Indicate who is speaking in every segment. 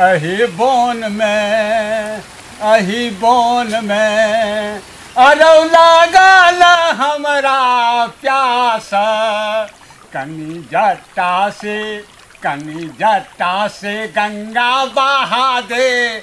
Speaker 1: अहि बोन मे अहि बोन मे अरौ लागल हमरा प्यास कनी जट्टा से कनी जट्टा से गंगा बहा दे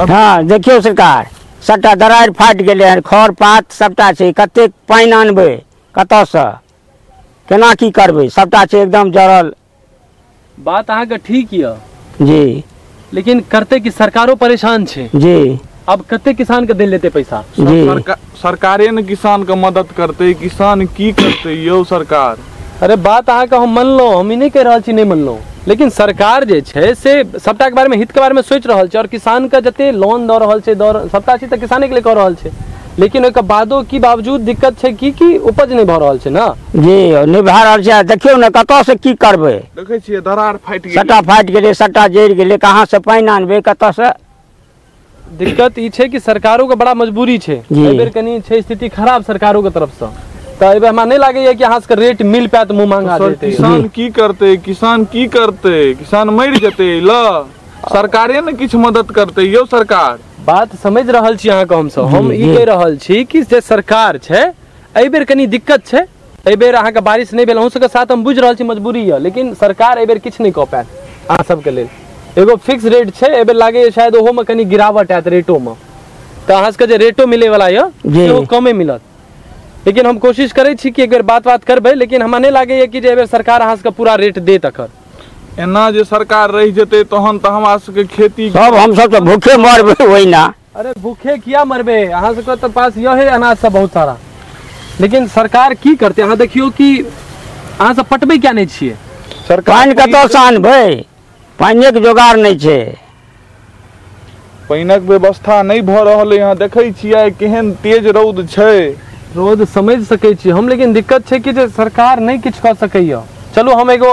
Speaker 1: हँ देखियौ सरकार सभटा दरारि फाटि गेलै हन खर पात सभटा छै कतेक पानि अनबै कतयसँ केना की करबै सभटा छै एकदम जड़ल बात अहाँके ठीक यऽ जी लेकिन करते कि सरकारो परेशान छै जी अब कते किसान के देल जेते पैसा जी सरका- सरकारे ने किसान के मदद करते किसान की करते यौ सरकार अरे बात अहाँके हम मानलहुँ हम ई नहि कहि रहल छी नहि मानलहुँ लेकिन सरकार जे छै से सभटाके बारेमे हितके बारेमे सोचि रहल छै आओर किसानके जते लोन दऽ रहल छै दऽ रह- सभटा चीज तऽ किसानेके लिए कऽ रहल छै लेकिन ओहिके बादो की बावजूद दिक्कत छै की कि उपज नहि भऽ रहल छै ने जी नहि भए रहल छै आ देखियौ ने कतऽसँ की करबै देखै छियै दरार फाटि गेलै सट्टा फाटि गेलै सट्टा जरि गेलै कहाँसँ पानि आनबै कतऽसँ दिक्कत ई छै कि सरकारोके बड़ा मजबूरी छै जी। एहि बेर कनि छै स्थिति खराब सरकारोके तरफसँ तऽ एहि बेर हमरा नहि लागैए कि अहाँ सबके रेट मिल पायत मुँह मांगा सर देतै किसान की करते किसान की करते किसान मरि जेते ल सरकारे ने किछु मदद करते यौ सरकार बात समझ रहल छी अहाँके हमसब हम ई जी। कहि रहल छी कि जे सरकार छै एहि बेर कनि दिक्कत छै एहि बेर अहाँके बारिश नहि भेल अहूँ सबके साथ हम बुझि रहल छी मजबूरी यऽ लेकिन सरकार एहि बेर किछु नहि कऽ पायत अहाँ सबके लेल एगो फिक्स रेट छै एहि बेर लागैए शायद ओहोमे कनि गिरावट आयत रेटोमे तऽ अहाँ सबके जे रेटो मिलैवला यऽ जी। सेहो कमे मिलत लेकिन हम कोशिश करै छी कि एक बेर बात बात करबै लेकिन हमरा नहि लागैए कि जे एहि बेर सरकार अहाँ सबके पूरा रेट देत एखन एना जे सरकार रहि जेतै तहन तऽ हमरा सबके खेती सब हमसब तऽ भूखे मरबै ओहिना अरे भूखे किया मरबे अहाँ सबके तऽ पास यह है अनाज सब बहुत सारा लेकिन सरकार की करते अहाँ देखियो कि अहाँ सब पटबे क्या नहीं छिए सरकार पानि कतऽ से आनबै पानिक जोगाड़ नहि छै पानिक व्यवस्था नहि भऽ रहल है यहाँ देखै छियै केहन तेज रौद छै रोज समझ सकै छी हम लेकिन दिक्कत छै कि जे सरकार नहि किछु कऽ सकैए चलू हम एगो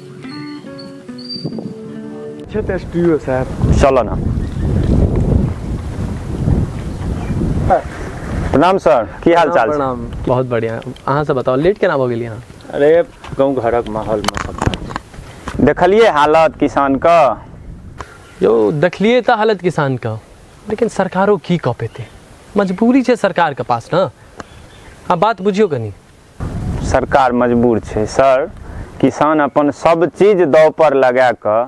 Speaker 1: C'è te spiro, sai. Shalana. प्रणाम सर की हाल चाल छै? प्रणाम बहुत बढ़िया अहाँ सब बताओ लेट केना भऽ गेलियै अहाँ अरे गाँव घरक माहौल में सब देखलिए हालत किसान का यौ देखलियै तऽ हालत किसान के लेकिन सरकारो की कऽ पेतै मजबूरी छै सरकार के पास ने आ बात बुझियौ कनी सरकार मजबूर छै सर किसान अपन सब चीज दाव पर लगा कऽ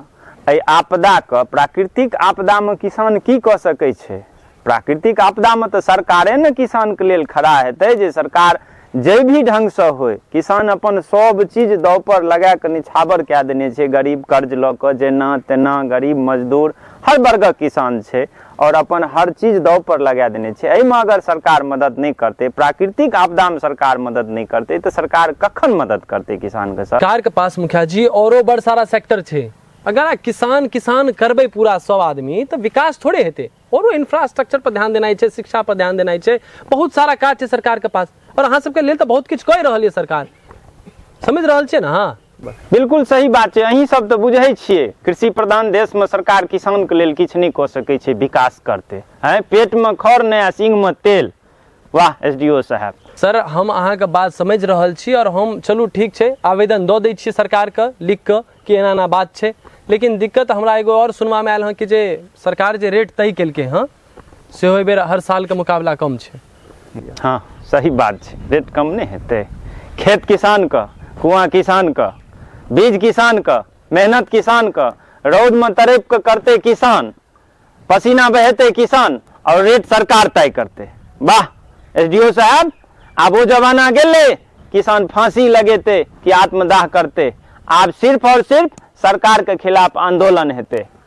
Speaker 1: एहि आपदाके प्राकृतिक आपदामे किसान की कऽ सकै छै प्राकृतिक आपदामे तऽ सरकारे ने किसानके लेल खड़ा हेतै जे सरकार जाहि भी ढङ्गसँ होइ किसान अपन सब चीज दाव पर लगा कऽ निछावर कए देने छै गरीब कर्ज लऽ कऽ जेना तेना गरीब मजदूर हर वर्गक किसान छै और अपन हर चीज दाव पर लगा देने छै एहिमे अगर सरकार मदद नहीं करते प्राकृतिक आपदा में सरकार मदद नहीं करते तो सरकार कखन मदद करते किसान के सर सरकार के पास मुखिया जी औरो बड़ सारा सेक्टर छै अगर आ किसान किसान करबे पूरा सब आदमी तो विकास थोड़े हेते औरो इंफ्रास्ट्रक्चर पर ध्यान देना छै शिक्षा पर ध्यान देना छै बहुत सारा काज छै सरकार के पास और अहाँ सबके लेल तो बहुत किछु कहि रहल ये सरकार समझ रहल छियै ने अहाँ बिल्कुल सही बात छै अहीं सब तऽ बुझै छियै कृषि प्रधान देश में सरकार किसान के लेल किछु नहि कऽ सकै छै विकास करते हैं पेट में खर नहि आ सिंह में तेल वाह एस डी ओ साहब सर हम अहाँके बात समझि रहल छी आओर हम चलू ठीक छै आवेदन दऽ दै छियै सरकारके लिख कऽ कि एना एना बात छै लेकिन दिक्कत हमरा एगो आओर सुनबामे आयल हँ कि जे सरकार जे रेट तय केलकै हँ सेहो एहि बेर हर सालके मुकाबला कम छै हँ सही बात छै रेट कम नहि हेतै खेत किसानके कुआँ किसानके बीज किसानके मेहनत किसानके रौदमे तरपि कऽ करतै किसान पसीना बहेतै किसान आओर रेट सरकार तय करतै वाह एस डी ओ साहब आब ओ जमाना गेलै किसान फांसी लगेतै कि आत्मदाह करतै आब सिर्फ आओर सिर्फ सरकारके खिलाफ आंदोलन हेतै